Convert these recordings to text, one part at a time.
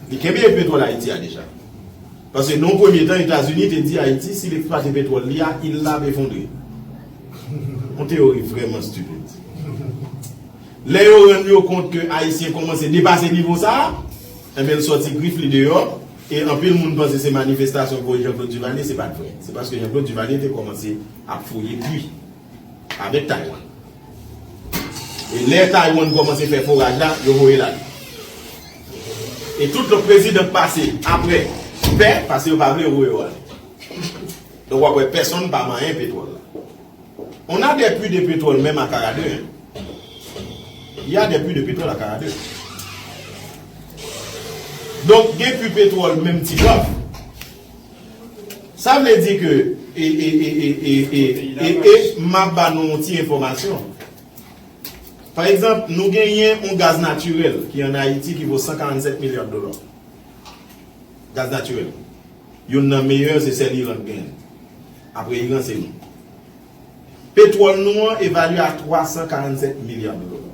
Li kenbe e petwòl Ayiti a deja. Paske nan yon premye tan Etazini te di Ayiti si l eksplwate petwòl li a il la ap efondre. Yon teyori vrèman stupid. Lè yo rann yo kont ke Ayisyen kòmanse depase nivo sa a, enben l sòti grif li deyò e anpil moun panse se manifestasyon pou Jean Claude Duvalier, se pa t vrè. Se paske Jean Claude Duvalier te kòmanse ap fouye pwi. avèk Taiwan. E lè Taiwan kòmanse fè foraj la, yo voye l ale. E tout lòt prezidan k pase apre pè, pase yo pa vle yo voye yo ale. Donk w ap wè pèsonn pa manyen petwòl la. On a des puits de pétrole menm a Karadè hein. Il y a des puits de pétrole à Karadè. Donk gen puits petwòl menm Ti Gob. Sa vle di ke e e e e e e m ap ba nou yon ti enfòmasyon. Pa egzanp, nou genyen yon gaz natirèl ki an Ayiti ki vo 147 milya dola. Gaz natirèl. Youn nan meyè se sèl Iran ki genyen. Apre Iran se nou. Petwòl nou an evalye a 347 milya dola.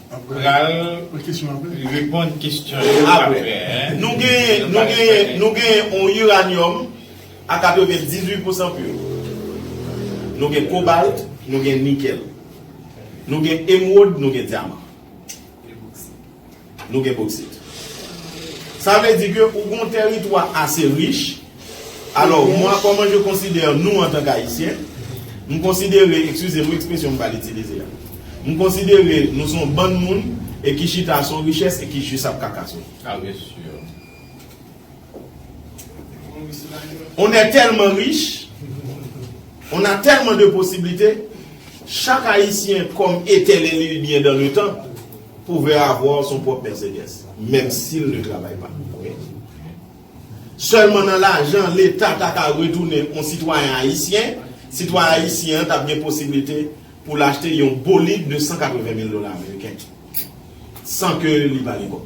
Mwen pral reponn kesyon yo aprè. Nou genyen yon uranium a 98 pousan pur. Nou gen cobalt, nou gen nickel. Nou gen emeraude, nou gen diamant. Nou gen bauxite. Sa vle di ke ou gen yon teritwa ase rich. Alò, mwa kòman je konsidère nou antan k Ayisyen, m konsidere, ekskize m wi ekspresyon m pral itilize a, m konsidere nou s on bann moun e ki chita s on richès e ki jis ap kaka sou li. A we si yo. On è tèlman rich, on a tèlman de posiblite, chak Ayisyen kòm etènèl il byen dan le tan pouvè avwa son pwòp Mèsedès, menm si l ne travay pa. Sèlman nan lajan leta ta ka retounen yon sitwayen ayisyen, sitwayen ayisyen an t ap gen posiblite pou l achte yon bolid de 180 mil dola ameriken san ke li pa gen kòb.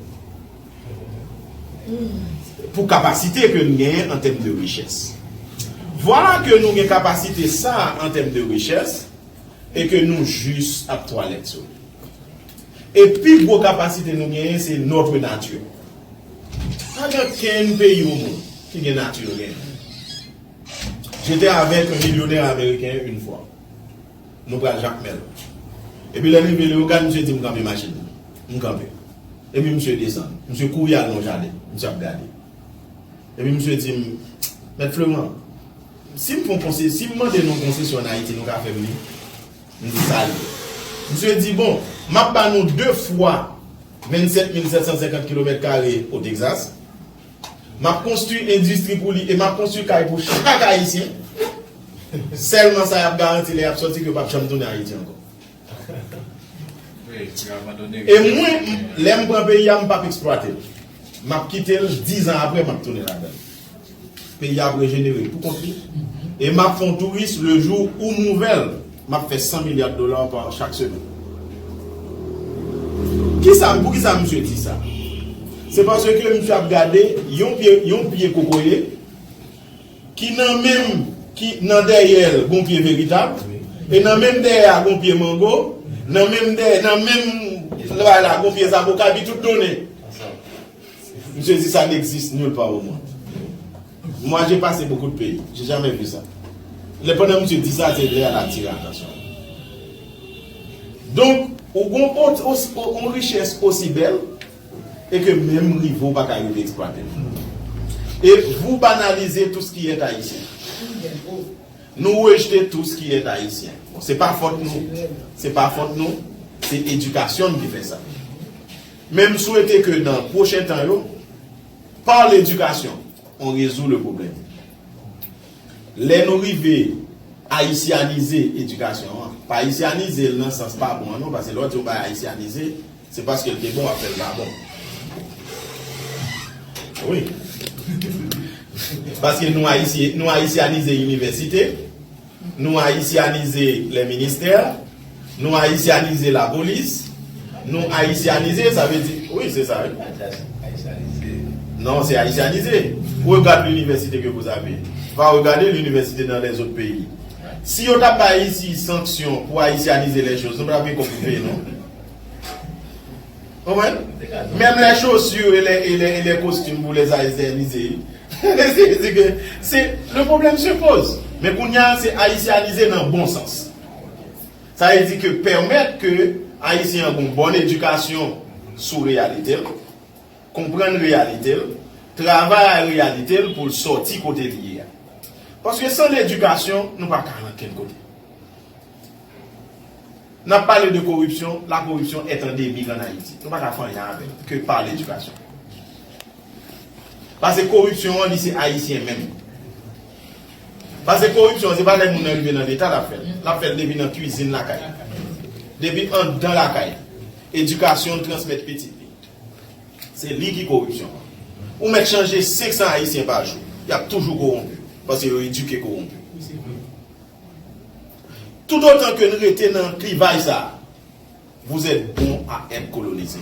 Pou kapasite ke n genyen an tèm de richès. Vwala ke nou gen kapasite sa a an tèm de richès e ke nou jis ap twalèt sou li. E pi gwo kapasite nou genyen se notre nature. Pa gen kenn peyi o mond ki gen nati yo genyen. J'étais avec un millionnaire américain une fois. Nou pral Jakmèl. Epi lè n rive Leyogàn misye di m kanpe machin nan. M kanpe. Epi misye desann. Misye kouri al nan yon jaden. Misye ap gade. Epi misye di m, Mèt Fleurant, si m fon konse, si m mande nou yon konsesyon an Ayiti nou ka fè m li? M te salye l. Misye di, Bon, m ap ba nou de fwa 27750 kilomèt kare o Texas. M ap konstwi endistri pou li e m ap konstwi kay pou chak Ayisyen. Sèlman sa y ap garanti lè y ap soti ke yo p ap janm tounen Ayiti ankò. E mwen, lè m pran peyi a, m p ap eksplwate l. M ap kite l, dizan apre m ap tounen ladan l. Peyi a ap rejenere pou kont li e map fon touris le jou ou m ouvèl map fè 100 milliards dollars pa an chak semèn. Kisa pou kisa misye di sa? Se paske misye ap gade yon pye yon pye kokoye ki nan menm ki nan dèyèl gon pye veritab e nan menm dèyè a gon pye mango nan menm dèyè nan menm bay la gon pye zaboka epi tout donnen. Misye di sa n'existe nulle part au monde. Moi j'ai passé beaucoup de pays, j'ai jamais vu ça. Lè pandan misye di sa, se lè a l atire atansyon. Donk, ou gon yon richès osi bèl e ke menm rive w pa ka rive eksplwate l. E vou banalize tout ce qui est haïtien. Nou rejete tout ce qui est haïtien. Bon, se pa fòt nou, se pa fòt nou, se edikasyon n ki fè sa. Men m swete ke nan pwochen tan yo, par l'éducation, on résout le problème. Lè nou rive ayisyanize edikasyon an, pa ayisyanize l nan sans pa bon an non, paske lè w di yon bagay ayisyanize, se paske l te bon w ap fè l pa bon. Wi. Paske nou ayisyanize inivèsite. Nou ayisyanize lè ministè, nou ayisyanize la polis, nou ayisyanize sa vle di wi se sa wi. Pa di ayisyanize. Non se ayisyanize. Regarde l'université que vous avez. Va regarder l'université dans les autres pays. Si yo ta bay Haïti sanksyon pou ayisyanize les choses, nou pa tap gen kòb pou peye non. Konprann? Menm lè chaussure e lè e lè costume pou les haïtianiser. Se ke se le problème se pose. Men kounya se haïtianiser nan bon sans. Sa vle di ke pèmèt ke Ayisyen an gon bonne éducation sou reyalite l, konprann reyalite l, travay a reyalite l pou l sòti kote li ye a. Paske san l'éducation nou pa ka al ankenn kote. Nap pale de koripsyon, la koripsyon est endemique en Haïti. Nou pa ka fè anyen avèl ke par l'éducation. Pase koripsyon an li se Ayisyen menm. Pase koripsyon an se pa lè moun nan rive nan leta lap fèl. Lap fèl depi nan kwizin lakay. Depi andan lakay. Edikasyon l transmèt pitit li. Se li ki koripsyon an. Ou mèt chanje 500 Ayisyen pa jou, yap toujou kowonpi. Pase yo edike kowonpi. Tout otan ke n rete nan klivay sa a, vous êtes bon à être colonisé.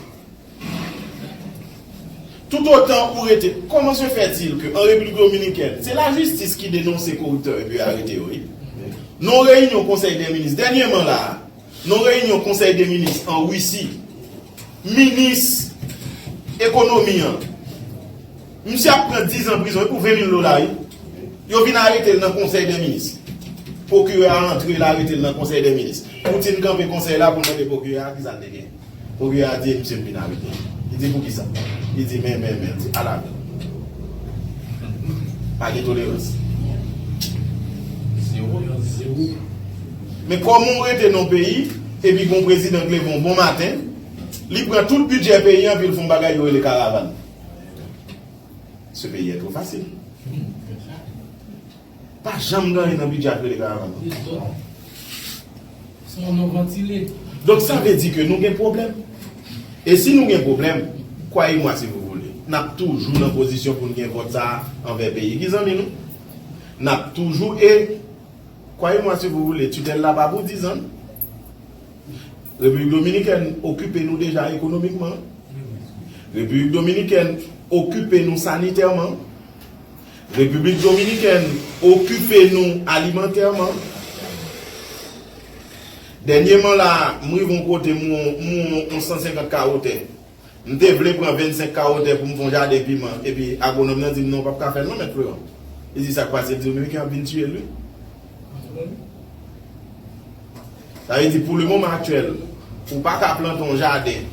Tout otan ou rete, comment se fait-il que en République Dominicaine, se la justice ki denonse koriptè epi arete yo wi. Nan yon reyinyon konsèy dè minis, dènyeman la a, nan yon reyinyon konsèy dè minis an Russie, minis ekonomi an, Misye ap pran 10 ans prizon e pou 20 mil dola wi. Yo vin aretel nan konsèy dè minis. Pwokirè a antre l aretel nan konsèy dè minis. Poutine kanpe konsèy la poul mande pwokirè a kisa l te gen. Pwokirè a di e misye m vin arete l. Li di poukisa. Li di men men men. L di ala men. Pa gen tolerans. Zero nan zero. Men koman w rete nan w peyi epi gon prezidan k leve yon bon maten li pran tout bidjè peyi an epi l fon bagay yo rele karavan. Ce peyi a two fasil. Pa janm gen anyen nan bidjè ak rele karavan non. Se yon non vantile. Donk sa vle di ke nou gen pwoblèm. E si nou gen pwoblèm, kwaye mwa si vou voulez, n ap toujou nan pozisyon pou n gen vòt sa a anvè peyi ki zanmi nou. N ap toujou e kwaye mwa si vou voulez, titèl la pa pou dizan. Repiblik Dominikèn okipe nou deja ekonomikman. Repiblik Dominikèn okipe nou sanitèman. Repiblik Dominikèn okipe nou alimantèman. Dènyeman la a, m rive yon kote m wè yon 150 kawo tè. M te vle pran 25 kawo tè pou m fè yon jaden piman epi agwonòm nan di m non ou pap ka fè l non mèt Freron. Li di sa k pase, li di Dominiken ap vin tiye l wi. Sa vle di pou le moman aktyèl ou pa ka plante yon jaden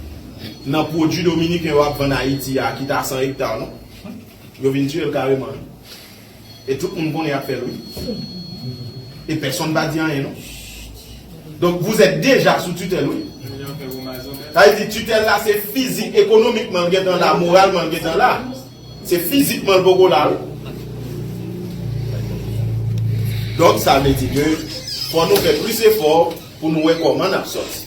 nan pwodui Dominiken yo ap vann Ayiti a ki ta 100 ekta non. Yo vin tiye l kareman. E tout moun konnen yap fèl wi. E pèsonn pa di anyen non. Donk vous êtes deja sou tutèl wi. Sa vle di tutèl la se fizik, ekonomikman l gentan la, moralman l gentan la. Se fizikman l poko la wi. Donk sa vle di ke fò nou fè plis efò pou nou wè kòman nap sòti.